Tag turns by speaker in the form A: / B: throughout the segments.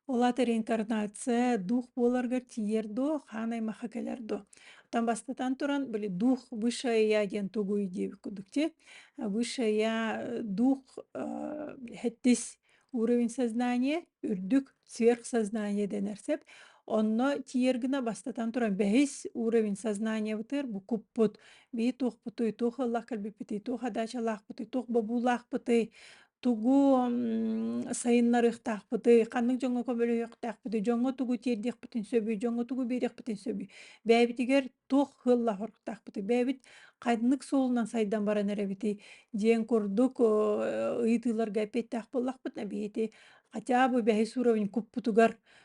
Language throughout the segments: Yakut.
A: Ол аата реинкарнация дух буоларгар тиийэр дуо, хаан аймахха кэлэр дуо? Оттон бастатан туран, били дух высшая я диэн тугуй диэбит курдук тий. Высшая я э, дух э, хэттис уровень сознания, үрдүк сверхсознание дэнэр сөп. Онно тиийэр гына бастатан туран бэһис уровень сознаниебытыгар букуппут бии туохпутуй, туох ыллах кэлбиппитий, туох адаачалаахпытый, туох бобуулаахпытый, Тугу сайыннарыахтаахпытый, ханнык дьоҥҥо көмөлөһүөхтаахпытый, дьоҥҥо тугу тиэрдиэхпитин сөбүй, дьоҥҥо тугу биэриэхпитин сөбүй, бэйэбитигэр туох сыаллаһыахтаахпытый, бэйэбит ханнык суолунан сайдан баран эрэбитий диэн курдук ыйытыыларга эппиэттээх буоллахпытына биһиги хотя бы бэһис уровень куппутугар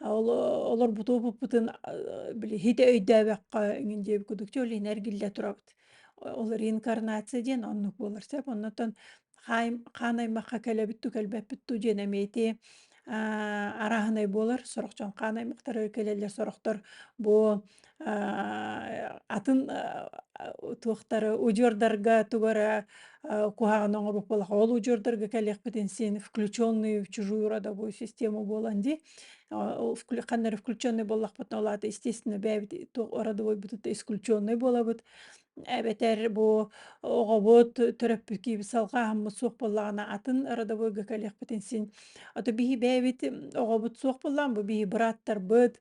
A: олорбуту буппутун били хите өйдөөбөккө иҥин диэби кудукчу олин эргиллэ турабыт ол реинкарнация диэн оннук буолар сөп оннотон хаан аймахха кэлэбитту кэлбэппитту диэн эмиэти араһынай буолар сорохчон хаан аймахтары кэлэллэр сорохтор бу атын туохтары удьуордарга тугара куһаҕан оҥорбут буоллаха ол удьуордарга кэлиэхпитин син включенные в чужую родовую систему буолан дии ханнары включенный буоллахпытына ол аата естественно бэйэбит родовойбутут исключенный буолабыт эбэтэр бу оҕобут төрөппүккүүбүт салҕааһыммыт суох буоллаҕына атын родовойга кэлиэхпитин син а то биһи бэйэбит оҕобут суох буоллаҕына бу биһи бырааттарбыт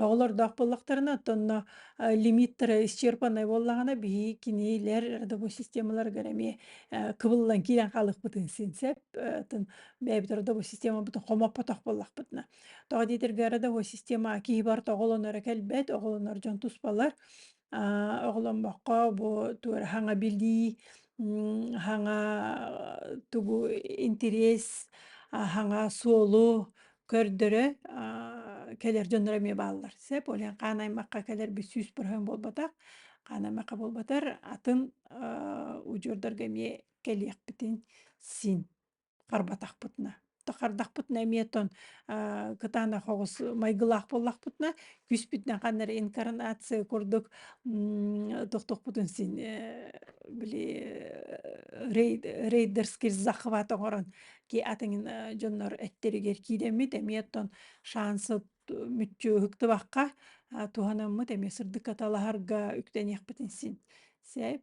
A: Оҕолордоох буоллахтарына, оттонно э, лимиттара исчерпаннай буоллаҕына, биһи кинилэр родовой системаларыгар эмиэ э, кыбыллан киирэн хаалыахпытын син сөп. Э, атын бэйэбит родовой системабытын хомоппотох буоллахпытына. Тоҕо диэтэргэ родовой система киһи барыта оҕолонора кэлбэт, оҕолонор дьон туспалар. оҕоломмокко бу туора хаҥа билии, хаҥа тугу интириэс, хаҥа суолу көрдөрө кэлэр дьонноро эмиэ бааллар. Сөп, ол иһин хаан аймахха кэлэр бүт сүүс процент буолбатах, хаан аймахха буолбатар, атын удьуордарга эмиэ кэлиэхпитин син. харбатахпытына тахардахпытына эмиэ тон кытаанах оҕус майгылаах буоллахпытына күүспүтүнэн ханна эрэ инкарнация курдук тохтохпутун син били рейдерский захват оҥорон ки атыҥын дьоннор эттэригэр киирэммит эмиэ тон шансыт мүччү ыһыктыбакка туһанаммыт эмиэ сырдык аталаһарга үктэниэхпитин син сэп